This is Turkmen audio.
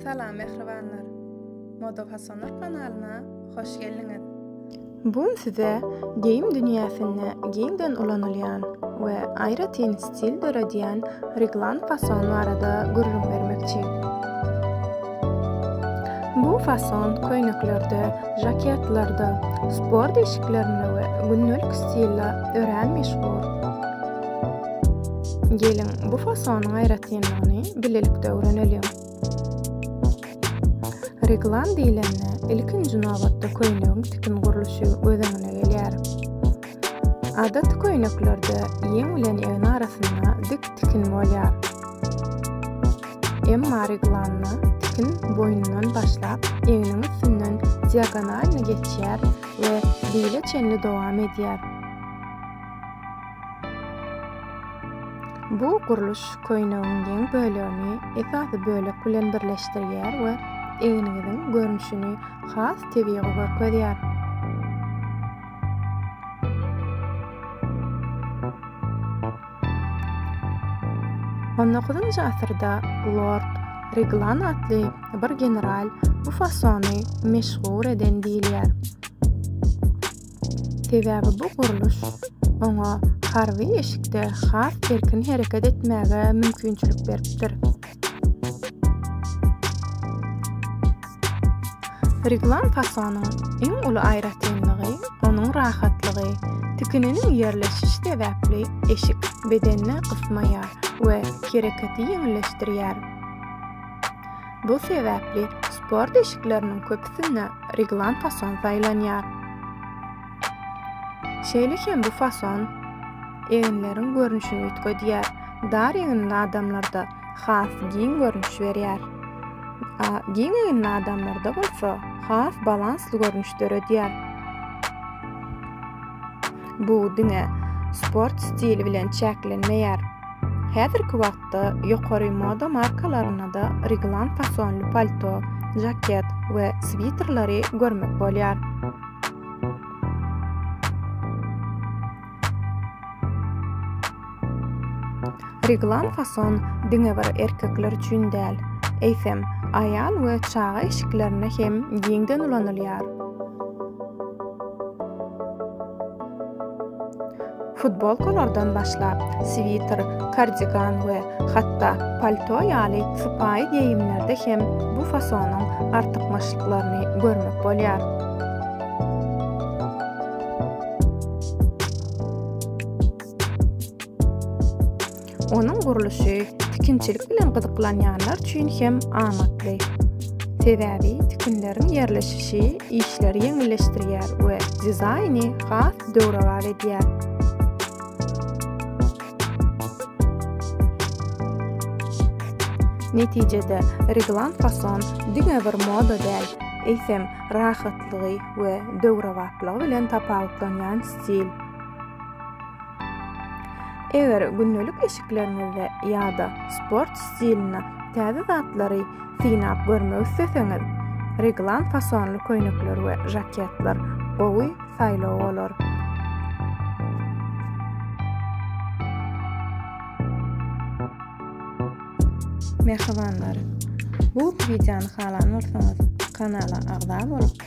Salam mähribanlar. Moda fasonlar kanalyna hoş geldiňiz. Bu gün size geýim dünýäsinde giňden ulanylýan we aýratyn stil döredýän reglan fason barada gürrüň bermekçi. Bu fason köýneklerde, žaketlarda, sport eşiklerinde we gündelik stilde örän meşhur. Geliň, bu fasonyň aýratynlygyny bilelikde öwreneliň. Reglan diýlende, ilkinji nobatda köýnegiň tikin gurluşy göz öňüne gelýär. Adaty köýneklerde ýeň bilen egin arasynda dik tikin bolýar. Emma reglanda tikin boýundan başlap, egniň üstünden diagonalny geçýär we bile çenli dowam edýär. Bu gurluş köýnegiň ýeň bölegini esasy bölek bilen birleşdirýär we egniňiziň görnüşini has tebigy görkezýär. On dokuzynjy asyrda Lord Riglan atly bir general bu fasony meşhur eden diýilýär. Sebäbi bu gurluş oňa harby eşikde has erkin hereket etmäge mümkinçilik beripdir. Reglan fasonyň iň uly aýratynlygy onuň rahatlygy. Tikininiň ýerleşişi sebäpli eşik bedeni gysmaýar we hereketi ýeňilleşdirýär. Bu sebäpli sport eşikleriniň köpüsinde reglan fason saýlanýar. Şeýle hem bu fason eginleriň görnüşini üýtgedýär. Dar eginli adamlarda has giň görnüş berýär. Giň eginli adamlarda bolsa has balansly görnüş döredýär. Bu diňe sport stili bilen çäklenmeýär. Häzirki wagtda ýokary moda markalarynda-da Reglan fasonly palto, žaket we switerleri görmek bolýar. Reglan fason diňe bir erkekler üçin däl, eýsem, aýal we çaga eşiklerinde hem giňden ulanylýar. Futbolkalardan başlap, switer, kardigan we hatda palto ýaly sypaýy geýimlerde hem bu fasonyň artykmaçlyklaryny görmek bolýar. Onuň gurluşy tikinçilik bilen gyzyklanýanlar üçin hem amatly. Sebäbi tikinleriň ýerleşişi işleri ýeňilleşdirýär we dizaýny has döwrebap edýär. Netijede, reglan fason diňe bir moda däl, eýsem, rahatlygy we döwrebaplygy bilen tapawutlanýan stil. Eger gündelik eşikleriňizde ýa-da sport stilinde täze zatlary synap görmek isleseňiz, reglan fasonly köýnekler we žaketler gowy saýlaw bolar. Mähribanlar! Bu wideony halan bolsaňyz, kanala agza bolup,